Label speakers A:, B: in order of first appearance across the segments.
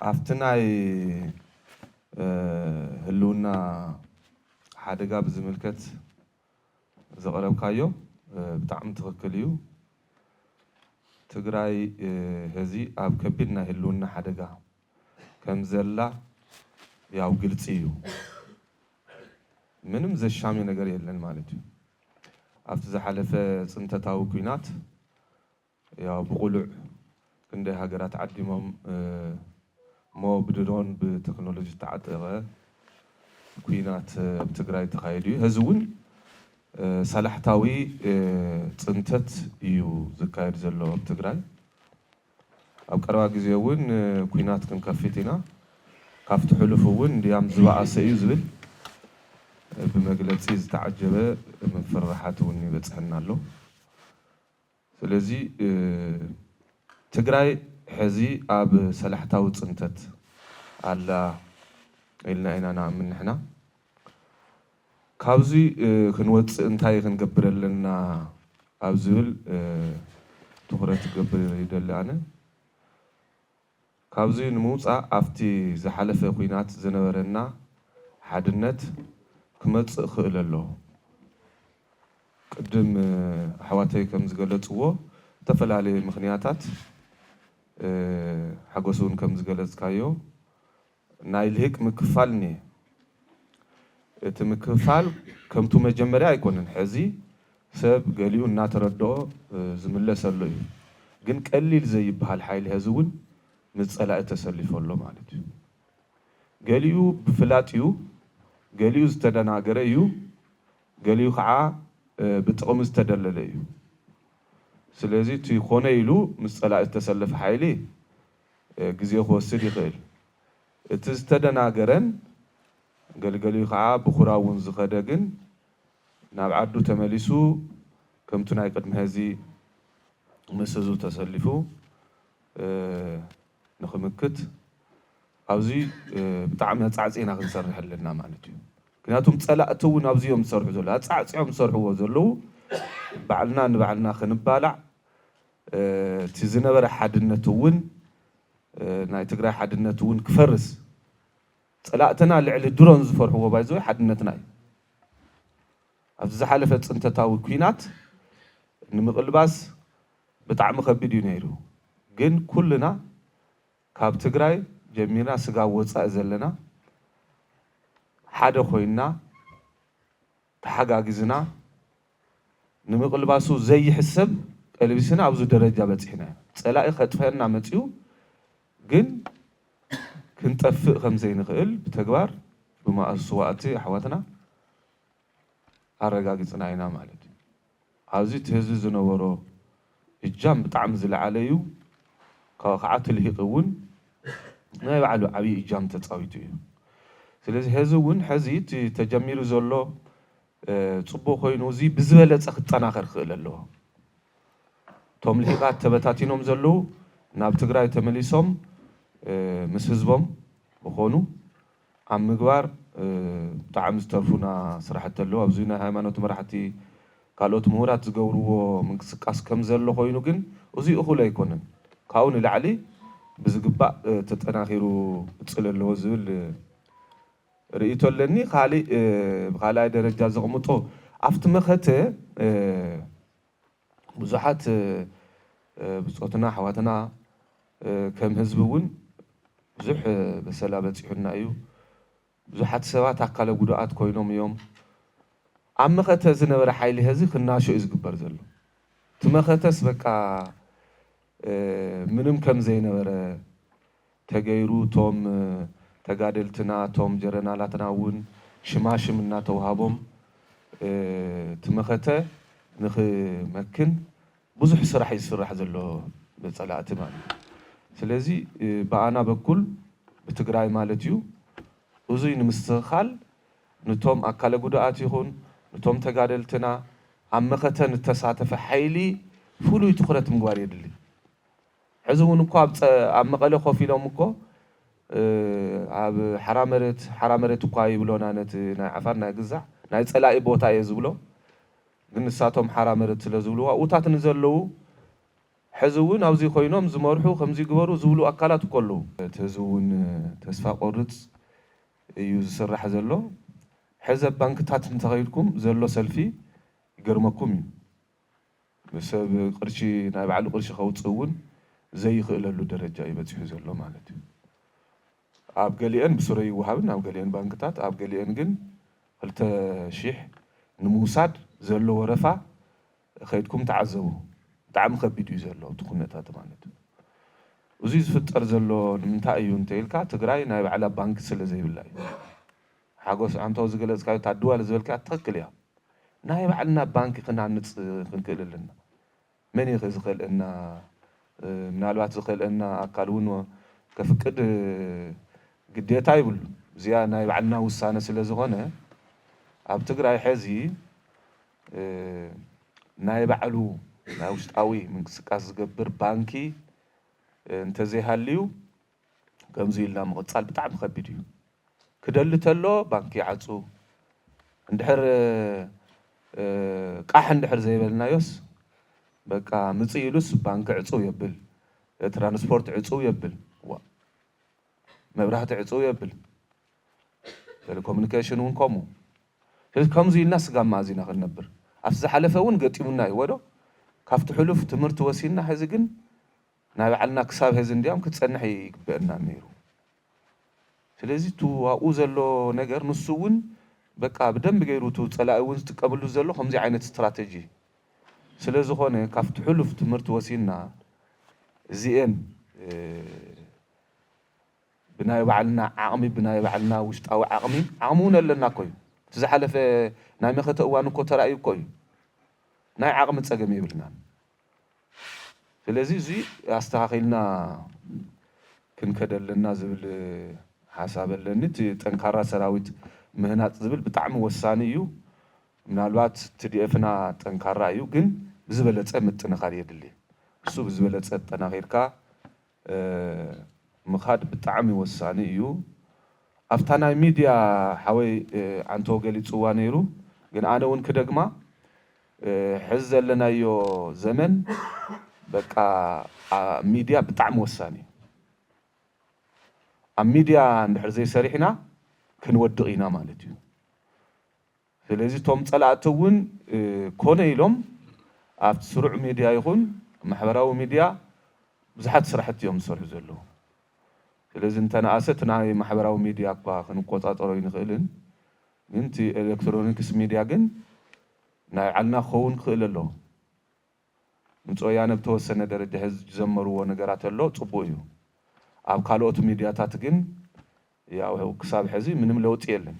A: ኣብቲ ናይ ህልውና ሓደጋ ብዝምልከት ዘቕረብካዮ ብጣዕሚ ትኽክል እዩ። ትግራይ ሀዚ ኣብ ከቢድ ናይ ህልውና ሓደጋ ከም ዘላ ያው ግልፂ እዩ። ምንም ዘሻሚ ነገር የለን ማለት እዩ። ኣብቲ ዝሓለፈ ፅንተታዊ ኲናት ያው ብቕሉዕ ክንደይ ሃገራት ዓዲሞም እሞ ብድሮን ብቴክኖሎጂ ዝተዓጠቐ ኲናት ኣብ ትግራይ ተኻይዱ እዩ። ሀዚ እውን ሳላሕታዊ ፅንተት እዩ ዝካየድ ዘሎ ኣብ ትግራይ። ኣብ ቀረባ ግዜ እውን ኲናት ክንከፍት ኢና፣ ካብቲ ሕሉፍ እውን እንድያም ዝበኣሰ እዩ ዝብል ብመግለጺ ዝተዓጀበ ምፍርራሓት እውን ይበጽሐና ኣሎ። ስለዚ ትግራይ ሕዚ ኣብ ሰላሕታዊ ጽንተት ኣላ ኢልና ኢና ንኣምን ንሕና። ካብዚ ክንወፅእ እንታይ ክንገብር ኣለና ኣብ ዝብል ትኹረት ክገብር ይደሊ ኣነ። ካብዚ ንምውፃእ ኣብቲ ዝሓለፈ ኹናት ዝነበረና ሓድነት ክመፅእ ክእል ኣሎ። ቅድም ኣሕዋተይ ከምዝገለፅዎ ዝተፈላለየ ምኽንያታት ሓጎስ እውን ከምዝገለፅካዮ ናይ ልሂቅ ምክፍፋል እኒሀ። እቲ ምክፍፋል ከምቱ መጀመርያ ኣይኮነን። ሕዚ ሰብ ገሊኡ እናተረደኦ ዝምለሰሎ እዩ። ግን ቀሊል ዘይብሃል ሓይሊ ሀዚ እውን ምስ ፀላኢ ተሰሊፉ ኣሎ ማለት እዩ። ገሊኡ ብፍላጥ እዩ፣ ገሊኡ ዝተደናገረ እዩ፣ ገሊኡ ከዓ ብጥቕሚ ዝተደለለ እዩ። ስለዚ እቲ ኮነ ኢሉ ምስ ፀላኢ ዝተሰለፈ ሓይሊ፣ ግዜ ክወስድ ይኽእል። እቲ ዝተደናገረን ገልገሊኡ ከኣ ብኩራ'ውን ዝኸደ ግን ናብ ዓዱ ተመሊሱ ከምቲ ናይ ቅድሚ ሀዚ ምስ ህዝቡ ተሰሊፉ ንክምክት ኣብዚ ብጣዕሚ ኣጻዕጺዕና ክንሰርሕ ኣለና ማለት እዩ። ምክንያቱም ጸላእቲ'ውን ኣብዚ እዮም ዝሰርሑ ዘለዉ። ኣጻዕጺዖም ዝሰርሕዎ ዘለዉ ባዕልና ንባዕልና ክንባላዕ እቲ ዝነበረ ሓድነት እውን ናይ ትግራይ ሓድነት እውን ክፈርስ ፀላእትና ልዕሊ ድሮን ዝፈርሕዎ ባይ ዘ ዌይ ሓድነትና እዩ። ኣብዚ ዝሓለፈ ፅንተታዊ ኲናት ንምቕልባስ ብጣዕሚ ከቢድ እዩ ነይሩ ግን ኩልና ካብ ትግራይ ጀሚርና ስጋብ ወፃኢ ዘለና ሓደ ኮይንና ተሓጋጊዝና ንምቕልባሱ ዘይሕሰብ ቀልቢስና ኣብዚ ደረጃ በጺሕና ኢና። ጸላኢ ከጥፈኣና መጺኡ ግን ክንጠፍእ ከምዘይንኽእል ብተግባር ብማኣስዋእቲ ኣሕዋትና ኣረጋጊጽና ኢና ማለት እዩ። ኣብዚ እቲ ህዝቢ ዝነበሮ እጃም ብጣዕሚ ዝለዓለ እዩ። ካብኡ ካዓ ትልሂቂ እውን ናይ ባዕሉ ዓብይ እጃም ተጻዊቱ እዩ። ስለዚ ሀዚ እውን ሐዚ እቲ ተጀሚሩ ዘሎ ፅቡቅ ኮይኑ እዙይ ብዝበለፀ ክጠናኸር ክኽእል ኣለዎ። እቶም ልሂቃት ተበታቲኖም ዘለው ናብ ትግራይ ተመሊሶም ምስ ህዝቦም ክኾኑ ኣብ ምግባር ብጣዕሚ ዝተርፉና ስራሕቲ ኣለው። ኣብዚ ናይ ሃይማኖት መራሕቲ ካልኦት ምሁራት ዝገብርዎ ምንቅስቃስ ከምዘሎ ኮይኑ ግን እዙይ እኹል ኣይኮነን ካብኡ ንላዕሊ ብዝግባእ ተጠናኺሩ ክቅፅል ኣለዎ ዝብል ርእይቶ ኣለኒ ካሊእ ብካልኣይ ደረጃ ዘቅምጦ ኣብቲ መኸተ ብዙሓት ብፆትና ኣሕዋትና ከም ህዝቢ እውን ብዙሕ በሰላ በፂሑና እዩ ብዙሓት ሰባት ኣካለ ጉዱኣት ኮይኖም እዮም ኣብ መኸተ ዝነበረ ሓይሊ ሀዚ ክናሾ እዩ ዝግበር ዘሎ እቲ መኸተስ በቃ ምንም ከምዘይነበረ ተገይሩ ቶም ተጋደልትና ቶም ጀረናላትና ውን ሽማ ሽም እናተውሃቦም እቲ መኸተ ንኽመክን ብዙሕ ስራሕ እዩ ዝስራሕ ዘሎ ብፀላእቲ ማለት እዩ ስለዚ ብኣና በኩል ብትግራይ ማለት እዩ እዙይ ንምስትኽኻል ንቶም ኣካለ ጉዱኣት ይኹን ንቶም ተጋደልትና ኣብ መኸተ ንተሳተፈ ሓይሊ ፍሉይ ትኹረት ምግባር የድሊ ሕዚ እውን እኮ ኣብ መቐለ ኮፍ ኢሎም እኮ ኣብ ሓራ መሬት ሓራ መሬት እኳ ይብሎና ነቲ ናይ ዓፋር ናይ ግዛዕ ናይ ፀላኢ ቦታ እየ ዝብሎ ግን ንሳቶም ሓራ መሬት ስለ ዝብልዋ እውታት ንዘለዉ ሕዚ እውን ኣብዚ ኮይኖም ዝመርሑ ከምዚ ግበሩ ዝብሉ ኣካላት እኮ ኣለዉ። እቲ ህዝቢ እውን ተስፋ ቆርፅ እዩ ዝስራሕ ዘሎ ሕዚ ኣብ ባንክታት እንተኸይድኩም ዘሎ ሰልፊ ይገርመኩም እዩ። ንሰብ ቅርሺ ናይ ባዕሉ ቅርሺ ከውጽእ እውን ዘይኽእለሉ ደረጃ እዩ በጺሑ ዘሎ ማለት እዩ። ኣብ ገሊኤን ብስረ ይወሃብን ኣብ ገሊኤን ባንክታት ኣብ ገሊኤን ግን ክልተ ሺሕ ንምውሳድ ዘሎ ወረፋ ከይድኩም ተዓዘቡ ብጣዕሚ ከቢድ እዩ ዘሎ እቲ ኩነታት ማለት እዩ። እዙይ ዝፍጠር ዘሎ ንምንታይ እዩ እንተኢልካ ትግራይ ናይ ባዕላ ባንኪ ስለዘይብላ እዩ። ሓጎስ ኣንታው ዝገለጽካዮ እታ ድዋል ዝበልካያ ትክክል እያ ናይ ባዕልና ባንኪ ክንሃንጽ ክንክእል ኣለና መን እዩ ከ ዝከልእና ምናልባት ዝከልእና ኣካል ውን ከፍቅድ ግዴታ ይብሉን እዚኣ ናይ ባዕልና ውሳነ ስለ ዝኮነ ኣብ ትግራይ ሐዚ ናይ ባዕሉ ናይ ውሽጣዊ ምንቅስቃስ ዝገብር ባንኪ እንተዘይሃልዩ ከምዚ ኢልና ምቕጻል ብጣዕሚ ከቢድ እዩ። ክደሊ ተሎ ባንኪ ይዓጹ እንድሕር ቃሕ እንድሕር ዘይበልናዮስ በቃ ምጽእ ኢሉስ ባንኪ ዕጹው የብል ትራንስፖርት ዕጹው የብል ዋእ መብራህቲ ዕጹው የብል ቴሌኮሙኒኬሽን እውን ከምኡ ስለዚ ከምዚ ኢልና ስጋብ መኣዝ ኢና ክንነብር ኣብቲ ዝሓለፈ እውን ገጢሙና እዩዎዶ ካብቲ ሕሉፍ ትምህርቲ ወሲድና ሕዚ ግን ናይ ባዕልና ክሳብ ሀዚ እንድያም ክትጸንሕ ኣይግበእናን ነይሩ ስለዚ እቱ ኣብኡ ዘሎ ነገር ንሱ እውን በቃ ብደንቢ ገይሩ እቱ ጸላኢ እውን ዝጥቀምሉ ዘሎ ከምዙይ ዓይነት ስትራተጂ ስለ ዝኾነ ካብቲ ሑሉፍ ትምህርቲ ወሲድና እዚኤን ብናይ ባዕልና ዓቕሚ ብናይ ባዕልና ውሽጣዊ ዓቕሚ ዓቕሚ እውን ኣለና እኮ እዩ እቲ ዝሓለፈ ናይ መኸተ እዋን እኮ ተራእዩ እኮ እዩ ናይ ዓቕሚ ጸገም የብልናን ስለዚ እዙይ ኣስተኻኺልና ክንከድ ኣለና ዝብል ሓሳብ ኣለኒ። እቲ ጠንካራ ሰራዊት ምህናፅ ዝብል ብጣዕሚ ወሳኒ እዩ። ምናልባት ትዲኤፍና ጠንካራ እዩ ግን ብዝበለፀ ምጥንኻር የድሊ። እሱ ብዝበለፀ ኣጠናኺርካ ምኻድ ብጣዕሚ ወሳኒ እዩ ኣፍታ ናይ ሚድያ ሓወይ ዓንተቦ ገሊፅዋ ነይሩ ግን ኣነ እውን ክደግማ ሕዚ ዘለናዮ ዘመን በቃ ሚድያ ብጣዕሚ ወሳኒ እዩ ኣብ ሚድያ እንድሕር ዘይሰሪሕና ክንወድቅ ኢና ማለት እዩ። ስለዚ እቶም ፀላእቲ እውን ኮነ ኢሎም ኣብቲ ስሩዕ ሚድያ ይኹን ማሕበራዊ ሚድያ ብዙሓት ስራሕቲ እዮም ዝሰርሑ ዘለዉ። ስለዚ እንተነኣሰ እቲ ናይ ማሕበራዊ ሚድያ እኳ ክንቆፃፀሮ ኣይንኽእልን ግን እቲ ኤሌክትሮኒክስ ሚድያ ግን ናይ ባዕልና ክኸውን ክኽእል ኣለዎ። ድምፂ ወያነ ብተወሰነ ደረጃ ሕዚ ዝጀመርዎ ነገራት ኣሎ ፅቡቅ እዩ። ኣብ ካልኦት ሚድያታት ግን ያው ክሳብ ሕዚ ምንም ለውጢ የለን።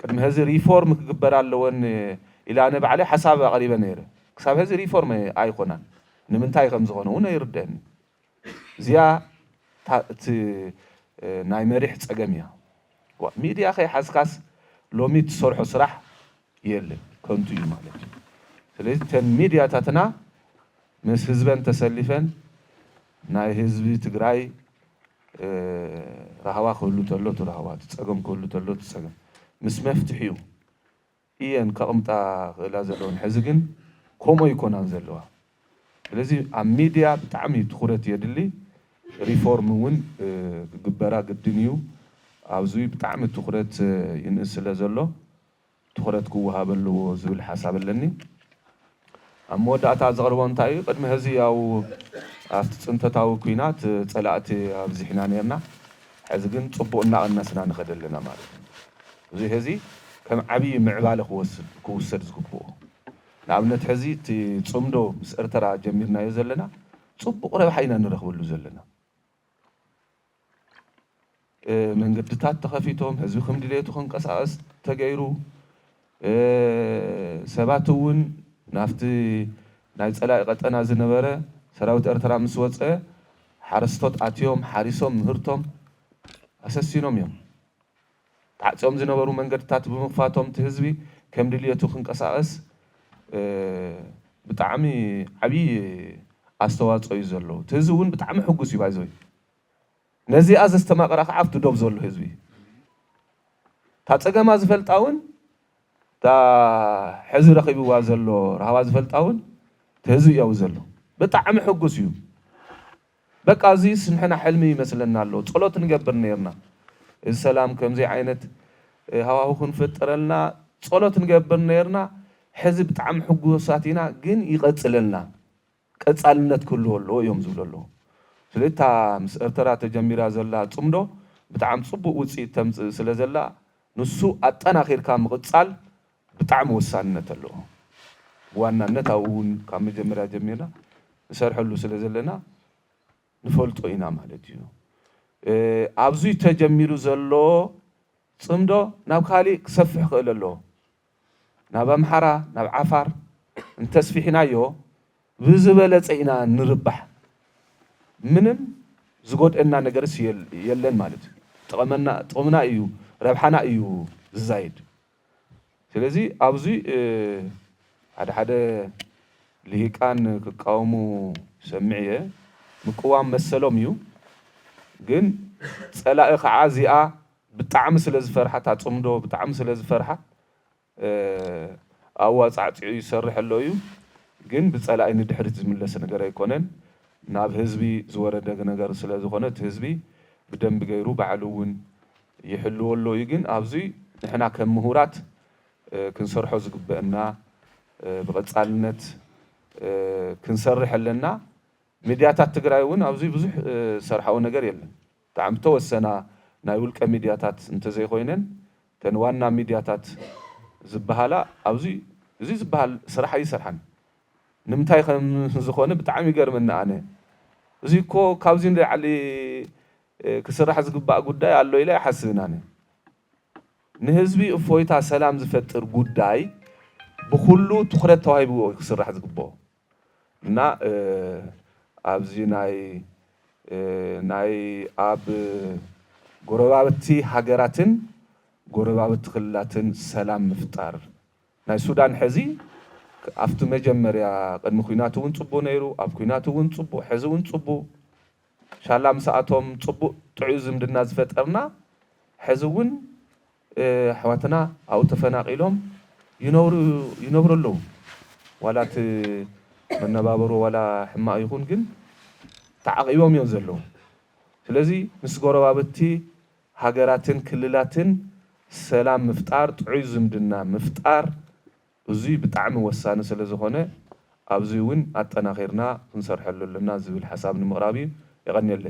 A: ቅድሚ ሀዚ ሪፎርም ክግበር ኣለወን ኢለ ኣነ ባዕለይ ሓሳብ ኣቕሪበ ነይረ። ክሳብ ሀዚ ሪፎርም ኣይኾናን። ንምንታይ ከምዝኾነ እውን ኣይርደእንን። እዚኣ እታ እቲ ናይ መሪሕ ፀገም እያ። ዋእ ሚድያ ከይሓዝካስ ሎሚ እትሰርሖ ስራሕ የለን። ከንቱ እዩ ማለት እዩ። ስለዚ እተን ሚድያታትና ምስ ህዝበን ተሰሊፈን ናይ ህዝቢ ትግራይ ራህዋ ክህሉ ተሎ እቲ ራህዋ፣ እቲ ጸገም ክህሉ ተሎ እቲ ጸገም ምስ መፍትሒኡ ኢየን ከቕምጣ ክእላ ዘለወን። ሕዚ ግን ከምኡ ኣይኮናን ዘለዋ። ስለዚ ኣብ ሚድያ ብጣዕሚ ትኹረት የድሊ። ሪፎርም እውን ክግበራ ግድን ኢዩ። ኣብዚ ብጣዕሚ ትኹረት ይንእስ ስለ ዘሎ። ትኹረት ክወሃብ ኣለዎ ዝብል ሓሳብ ኣለኒ። ኣብ መወዳእታ ዘቕርቦ እንታይ እዩ፣ ቅድሚ ሕዚ ያው ኣብቲ ፅንተታዊ ኩናት ፀላእቲ ኣብዚሕና ነይርና፣ ሕዚ ግን ፅቡቕ እናቐነስና ንኸድ ኣለና ማለት እዩ። እዙይ ሕዚ ከም ዓብዪ ምዕባለ ክውሰድ ዝግብኦ። ንኣብነት ሕዚ እቲ ፅምዶ ምስ እርትራ ጀሚርናዮ ዘለና ፅቡቕ ረብሓ ኢና ንረኽበሉ ዘለና። መንገድታት ተኸፊቶም ህዝቢ ከም ድሌቱ ክንቀሳቐስ ተገይሩ። ሰባት እውን ናብቲ ናይ ፀላኢ ቀጠና ዝነበረ ሰራዊት ኤርትራ ምስ ወፀ ሓረስቶት ኣትዮም ሓሪሶም ምህርቶም ኣሰሲኖም እዮም። ተዓፅዮም ዝነበሩ መንገድታት ብምኽፋቶም እቲ ህዝቢ ከም ድልየቱ ክንቀሳቐስ ብጣዕሚ ዓብዪ ኣስተዋፅኦ እዩ ዘለዎ። እቲ ህዝቢ እውን ብጣዕሚ ሕጉስ እዩ ባይዘወይ ነዚኣ ዘስተማቕራ ከዓ ኣብቲ ዶብ ዘሎ ህዝቢ እዩ። እታ ፀገማ ዝፈልጣ እውን እታ ሕዚ ረኺብዋ ዘሎ ራህዋ ዝፈልጣ እውን እቲ ህዝቢ እዩ ኣብኡ ዘሎ ብጣዕሚ ሕጉስ እዩ። በቃ እዚስ ንሕና ሕልሚ ይመስለና ኣሎ ጸሎት ንገብር ኔርና እዚ ሰላም ከምዚ ዓይነት ሃዋሁ ክንፍጥረልና ጸሎት ንገብር ኔርና ሕዚ ብጣዕሚ ሕጉሳት ኢና ግን ይቀጽለልና ቀጻልነት ክህልዎ ኣለዎ እዮም ዝብሉ ኣለዉ ስለዚ እታ ምስ ኤርተራ ተጀሚራ ዘላ ጽምዶ ብጣዕሚ ጽቡቅ ውጽኢት ተምጽእ ስለ ዘላ ንሱ ኣጠናኪርካ ምቅጻል ብጣዕሚ ወሳንነት ኣለዎ ብዋናነት ኣብኡ ውን ካብ መጀመርያ ጀሚርና ንሰርሐሉ ስለ ዘለና ንፈልጦ ኢና ማለት እዩ ኣብዙይ ተጀሚሩ ዘሎ ፅምዶ ናብ ካሊእ ክሰፍሕ ይኽእል ኣለዎ ናብ ኣምሓራ ናብ ዓፋር እንተስፊሕናዮ ብዝበለፀ ኢና ንርባሕ ምንም ዝጎድእና ነገርስ የለን ማለት እዩ ጥቕምና እዩ ረብሓና እዩ ዝዛይድ። ስለዚ ኣብዚ ሓደ ሓደ ሊሂቃን ክቃወሙ ይሰምዕ እየ ምቅዋም መሰሎም እዩ ግን ጸላኢ ካዓ እዚኣ ብጣዕሚ ስለ ዝፈርሓ እታ ጽምዶ ብጣዕሚ ስለ ዝፈርሓ ኣዋጻዕጺዑ ይሰርሕ ኣሎ እዩ ግን ብጸላኢ ንድሕሪት ዝምለስ ነገር ኣይኮነን ናብ ህዝቢ ዝወረደ ነገር ስለ ዝኾነ እቲ ህዝቢ ብደንቢ ገይሩ ባዕሉ ውን ይሕልዎ ኣሎ እዩ ግን ኣብዙይ ንሕና ከም ምሁራት ክንሰርሖ ዝግበእና ብቐፃልነት ክንሰርሕ ኣለና ሚድያታት ትግራይ እውን ኣብዙይ ብዙሕ ዝሰርሓኦ ነገር የለን ብጣዕሚ ዝተወሰና ናይ ውልቀ ሚድያታት እንተዘይኾይነን እተን ዋና ሚድያታት ዝብሃላ ኣብዙይ እዙይ ዝብሃል ስራሕ ኣይሰርሓን ንምንታይ ከምዝኾነ ብጣዕሚ ይገርመኒ ኣነ እዙይ እኮ ካብዙይ ንለዓሊ ክስራሕ ዝግባእ ጉዳይ ኣሎ ኢለ ኣይሓስብን ኣነ። ንህዝቢ እፎይታ ሰላም ዝፈጥር ጉዳይ ብኹሉ ትኹረት ተዋሂብዎ እዩ ክስራሕ ዝግበኦ እና ኣብዚ ናይ ናይ ኣብ ጎረባብቲ ሃገራትን ጎረባብቲ ክልላትን ሰላም ምፍጣር ናይ ሱዳን ሕዚ ኣብቲ መጀመርያ ቅድሚ ኩናት እውን ፅቡ ነይሩ ኣብ ኩናት እውን ፅቡ ሕዚ እውን ፅቡ ሻላ ምሳኣቶም ጽቡቅ ጥዑይ ዝምድና ዝፈጠርና ሕዚ ውን ኣሕዋትና ኣብኡ ተፈናቂሎም ይነብሩ ይነብሩ ኣለው ዋላ እቲ መነባብሮ ዋላ ሕማቅ ይኩን ግን ተዓቂቦም እዮም ዘለው ስለዚ ምስ ጎረባብቲ ሃገራትን ክልላትን ሰላም ምፍጣር ጥዑይ ዝምድና ምፍጣር እዙይ ብጣዕሚ ወሳኒ ስለዝኾነ ኣብዙይ እውን ኣጠናኺርና ክንሰርሐሉ ኣለና ዝብል ሓሳብ ንምቕራብ እዩ። የቐንየለይ።